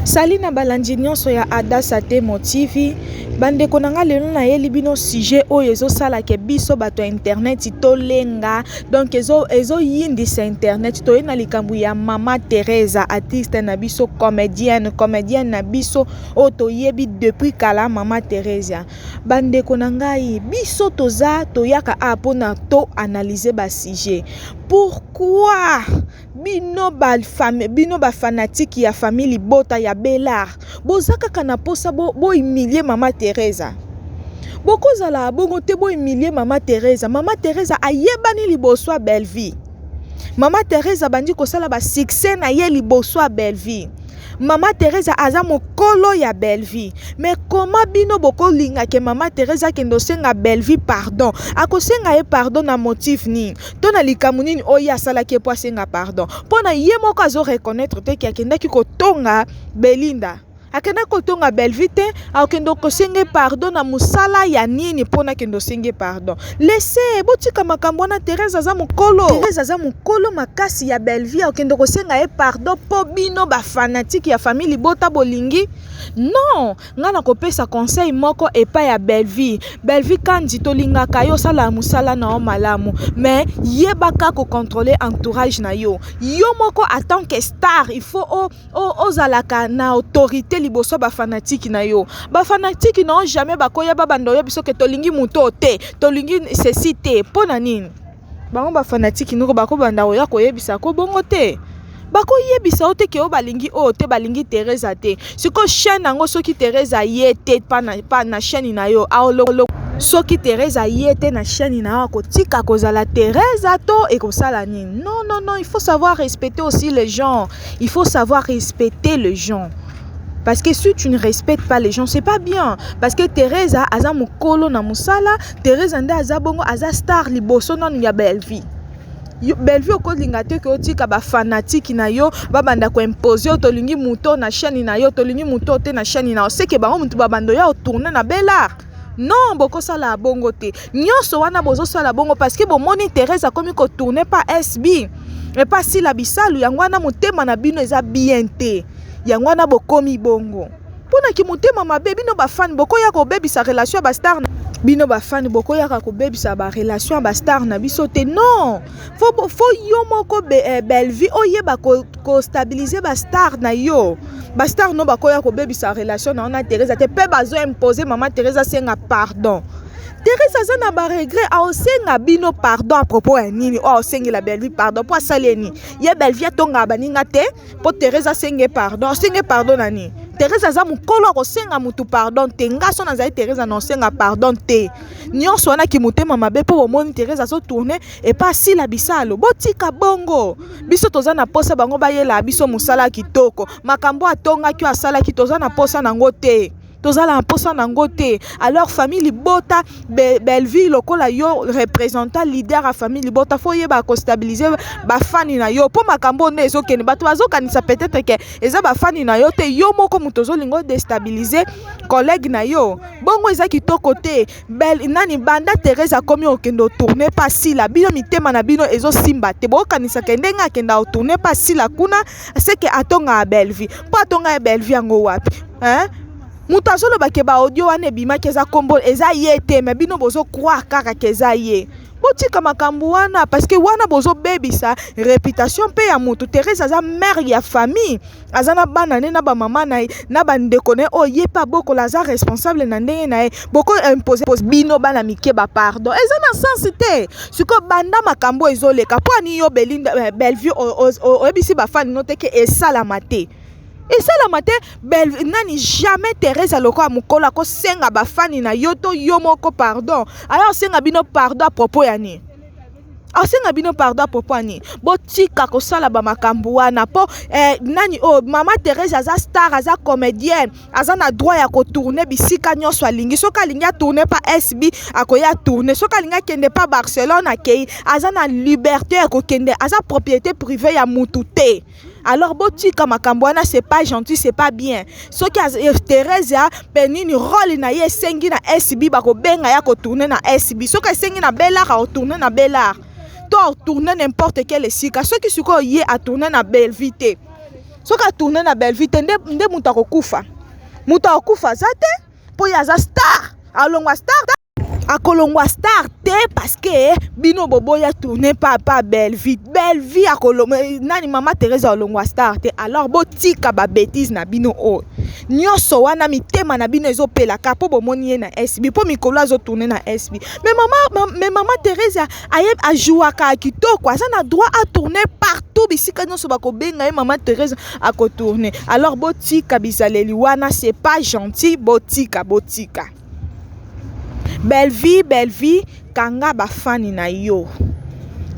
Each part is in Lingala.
Salut na balandi nionso ya Adasa Temo TV bandeko na nga lelo nayeli bino sujet oyo ezosala ke biso bato ya internet tolenga donc ezoyindisa ezo internet toye na likambo ya mama Teresa artiste na biso comedienne comedienne na biso oyo toyebi depuis kala mama Teresa bandeko na ngai biso toza toyaka a mpona to analyse ba sujet pourquoi Bino ba fame bino ba fanatique ya famille libota ya belard boza kaka na posa bo, bo humilier mama Teresa bokozala abongo te bo humilier mama Teresa mama Teresa ayebani liboso ya Bellevue mama Teresa bandi kosala ba succès na ye liboso ya Bellevue mama Teresa aza mokolo ya Bellevue mais koma bino bokolinga ke mama Teresa akende osenga Bellevue pardon akosenga ye pardon na motif nini to na likambo nini oyo ye asalaki ye mpo asenga pardon mpo na ye moko azo reconnaître te ke akendaki kotonga belinda akendaki kotonga bellevue te akokende kosenge pardon na mosala ya nini mpo nakende osenge pardon lese botika makambo wana therese aza mokolo therese aza mokolo makasi ya bellevue akokende kosenga ye pardon mpo bino bafanatike ya famille libota bolingi non Nga na kopesa conseil moko epa ya Bellevue, Bellevue kandy to lingaka yo sala musala na yo malamu mais yebaka ko controler entourage na yo, yo moko a tant que star il faut o o ozalaka na autorite liboso ya ba fanatique na yo, ba fanatique na yo jamais ba ko ya ba banda oyebi soki tolingi mutu oyo te, tolingi ceci te pona nini? bango ba fanatique noko bakobanda koya koyebisa ko bongo te bakoyebisa yo te ke oyo balingi oyo te balingi teresa te sikoyo chaine yango soki teresa aye te pa na, pa na chaine na yo aolokolo soki teresa aye te na chaine na yo akotika kozala teresa to ekosala nini non non non il faut savoir respecter aussi les gens il faut savoir respecter les gens Parce que si tu ne respectes pas les gens, c'est pas bien. Parce que Teresa aza mukolo na musala, Teresa nde aza bongo aza star liboso nanu ya Bellevue. Bellevue okolinga te ke otika ba fanatiki na yo babanda ko impose yo tolingi moto na chaîne na yo tolingi moto te na chaîne na yo seke bango moto babando ya otourne na belart non bokosala bongo te nyonso wana bozosala bongo parce que bomoni Teresa akomi kotourne pa SB epa sila bisalu yango wana motema na bino eza bien te yango wana bokomi bongo Pona ki motema mabe bino ba fan boko ya ko bebisa relation ya ba star na bino ba fan boko ya ka ko bebisa ba relation ya ba star na biso te non faut faut yo moko be, eh, Bellevue oyeba ko, ko stabiliser ba star na yo ba star no bako ya ko bebisa relation na ona Teresa te pe bazo imposer maman Teresa senga pardon Teresa aza na baregret aosenga bino pardon apropos ya nini oyo aosengela Bellevue pardon mpo asali ye nini ye Bellevue atongaka baninga te mpo teresa asenge pardon asenge pardon na nini teresa aza mokolo akosenga motu pardon te nga so nazali teresa na osenga pardon te nyonso wana kimotema mabe mpo bomoni teresa azotourne epa asila bisalo botika bongo biso toza na mposa bango bayelaa biso mosala kitoko makambo atongaki oyo asalaki toza na mposa nango te toza na mposa na yango te alors famille libota bellevue lokola yo representant leader ya famille libota fo oyeba kostabilize bafani na yo mpo makambo oyo nde ezokende bato bazokanisa peut-être ke eza bafani na yo te yo moko moto ozolinga odestabilize collègue na yo bongo eza kitoko te bel nani banda therese akomi okende otourne mpa sila bino mitema na bino ezosimba te bokokanisa ke ndenge akenda otourne mpa sila kuna seke atonga ya Bellevue mpo atonga ya Bellevue yango wapi hein? moto azoloba ke baaudio wana ebimaki eza kombo eza ye te me bino bozo croire kaka ke eza ye botika makambo wana parce que wana bozobebisa reputation mpe ya moto therese aza mare ya famille aza na bana ne na bamama na ye na bandeko na ye oyo ye mpe abokola aza responsable na ndenge na ye boko impose bino bana mike bapardon eza na sense te sikoyo banda makambo oyo ezoleka mpo ani yo belinda eh, bellevue oyebisi bafani no te ke esalama te esalama te belle nani jamais teresa lokola mokolo akosenga bafani na yo to yo moko pardon aya osenga bino pardon a propos ya nini asenga bino pardon propos ani botika kosala bamakambo wana mpo eh, nani oyo oh, mama therese aza star aza comédienne aza na droit ya kotourne bisika nyonso alingi soki alingi atourne pa sb akoya atourne soki alingi akende pa barcelone akei aza na liberté ya kokende aza propriété privé ya mutu te alors botika makambo wana c'est pas gentil c'est pas bien soki eh, theresia mpe nini role na ye esengi na sb bakobenga ya kotourne na sb soki esengi na belare akotourne na belare to atourne n'importe quel esika soki sikoyo ye atourne na belvi te soki atourne na bellevue te nde, nde moto akokufa moto akokufa aza te mpo ye aza star alongwa star akolongwa star te parce que bino boboya tourne papa bellevue bellevue akolongwa nani mama teresa alongwa star te alors botika babetise na bino oyo oh. nyonso wana mitema na bino ezopelaka mpo bomoni ye na sb mpo mikolo azotourne na sb me mama, ma, me mama teresa aye ajouaka kitoko aza na droit a tourner partout bisika nyonso bakobenga ye mama therese akotourne alors botika bizaleli wana c'est pas gentil botika botika bellevie bellevie kanga bafani na yo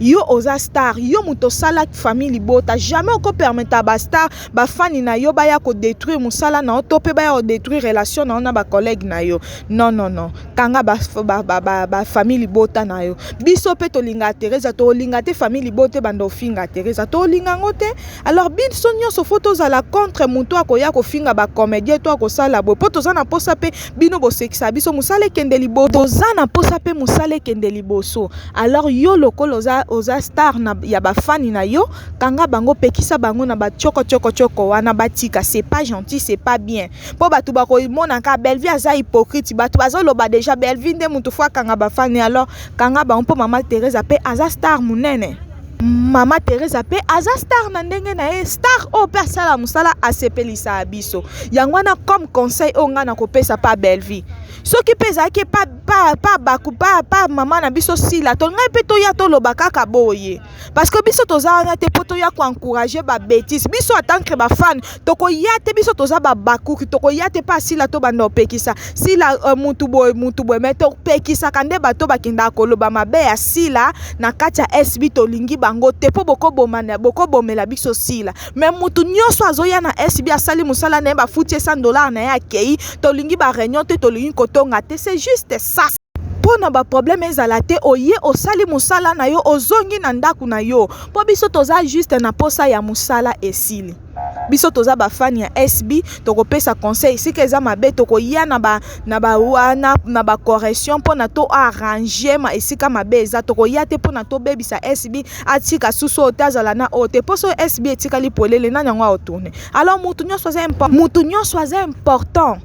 yo oza star yo moto osala famille libota jamais okopermeta bastar bafani na yo baya kodétruire mosala na yo to mpe baya kodétruire relation na yo na bacollègue na yo non non non kanga ba ba ba, ba famille libota na yo biso mpe tolingaka teresa tolinga te famille libota ebanda ofinga teresa tolinga yango te alors biso nyonso fo tozala contre motu akoya kofinga bacomédien to akosala boye mpo toza na mposa mpe bino bosekisa biso mosala ekende liboso toza na mposa mpe mosala ekende liboso alors yo lokola oza, oza star na, ya bafani na yo kanga bango pekisa bango na batioko tioko tioko wana batika c'est pas gentil c'est pas bien mpo bato bakomona kaka Bellevue aza hypocrite bato bazoloba deja Bellevue nde moto fo akanga bafani alors kanga bango mpo mama Teresa mpe aza star monene mama Teresa mpe aza star na ndenge na ye star oyo mpe asala mosala asepelisaka biso yango wana comme conseil oyo ngai nakopesa pa Bellevue soki mpe ezalaki pa, pa, pa, baku, pa, pa mama na biso sila to ngai mpe toya toloba kaka boye parce que biso toza wana te mpo toya koencourage babetise biso atancre bafane tokoya te biso toza babakuki tokoya te mpe asila tobanda kopekisa sila uh, mutu boye mutu boye mai topekisaka nde bato bakendaka koloba mabe ya sila na kati ya sb tolingi bango te mpo bokobomela biso sila mai mutu nyonso azoya na sb asali mosala na ye bafuti ye 100 dollar na ye akei tolingi bareunion te tolingi kotonga te c'est juste ça po na ba problème ezala te oye osali musala na yo ozongi na ndaku na yo po biso toza juste na posa ya musala esili biso toza ba fan ya SB tokopesa conseil sika eza mabe tokoya na ba na ba wana na ba correction mpo na to arranger ma esika mabe eza tokoya te mpo na tobebisa SB atika susu oyo te azala na oyo te mpo so SB etikali polele nani yango aotourne alors motu nyonso aza motu nyonso aza important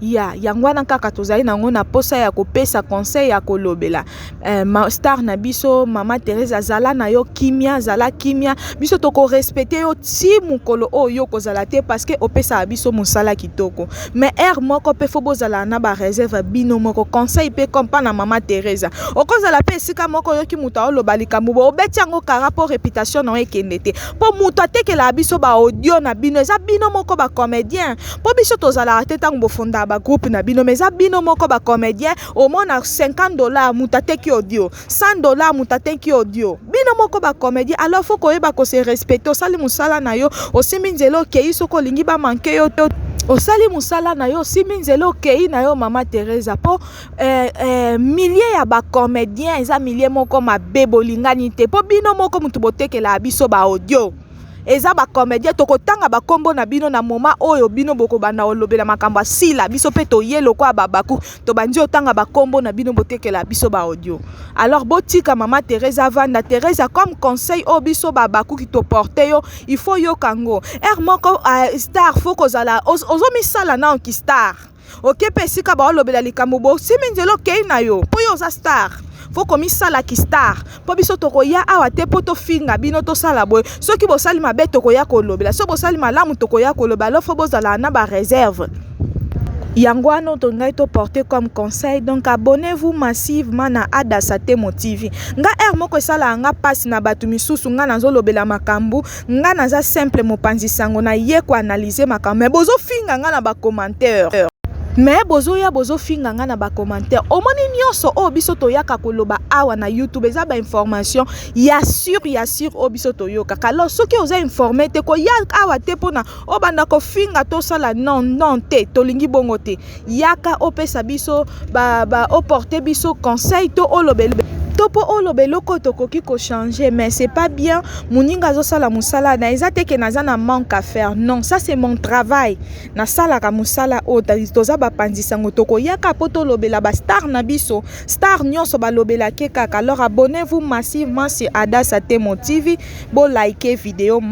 ya yango wana kaka tozali nango na posa ya kopesa conseil ya kolobela eh, ma star na biso mama Teresa zala na yo kimia zala kimia biso tokorespecte yo ti mokolo oyo yo okozala te parceke opesaka biso mosala kitoko mais heure moko mpe fo bozala na bareserve bino moko conseil mpe kompa na mama Teresa okozala mpe esika moko oyoki moto aoloba likambo bo obeti yango kara mpo reputation na yo ekende te mpo moto atekelaka biso baaudio na bino eza bino moko bacomédien Po biso tozalaka te tango bofondaka ba groupe na bino mais eza bino moko ba comedien omona 50 dollars mutu ateki audio 100 dollars mutu ateki audio bino moko ba comedien alors faut koyeba ko se respecter osali musala na yo osimbi nzela okeyi soki olingi ba manque yo te osali musala na yo osimbi nzela okeyi na yo mama Teresa po eh, eh, milieu ya ba comedien eza milieu moko mabe bolingani te po bino moko mutu botekelaka biso ba audio eza ba comedien tokotanga bakombo na bino na moma oyo bino bokobanda olobela makambo ya sila biso mpe toye lokola babaku tobandi otanga bakombo na bino botekela biso ba audio alors botika mama teresa vanda teresa comme conseil oyo biso babaku kitoporte yo il faut yoka yango heure moko uh, star fo kozala ozomisala nao ki star oke mpe esika baolobela likambo bosimi nzela okei na yo mpo yo oza star fo komisala kistar mpo biso tokoya awa te mpo tofinga bino tosala boye soki bosali mabe tokoya kolobela soki bosali malamu tokoya koloba alo fo bozala na bareserve yango wana oyo ngai toporte comme conseil donc abonnez vous massivement na adasa temo tv nga heure moko esalaka nga mpasi na bato misusu nga nazolobela makambo Nga naza simple mopanzi sango na ye ko analyser makambo mais bozo finga nga na ba commentaires. Mais bozoya bozo finga nga na ba commentaires. Omoni nionso oyo biso toyaka koloba awa na YouTube eza ba information ya sur ya sur oyo biso toyoka. Kalo soki oza informe te koya awa te pona obanda kofinga tosala non non te tolingi bongo te. yaka opesa biso ba, ba oporte biso conseil to olobela to mpo oloba eloko oyo tokoki kochanger mais c'est pas bien moninga azosala mosala na eza te ke naza na manque à faire non ça c'est mon travail nasalaka mosala oyo toza bapanzi sango tokoyaka mpo tolobela bastar na biso star nyonso balobelake kaka alors abonnez-vous massivement sur adasa temo tv bolike video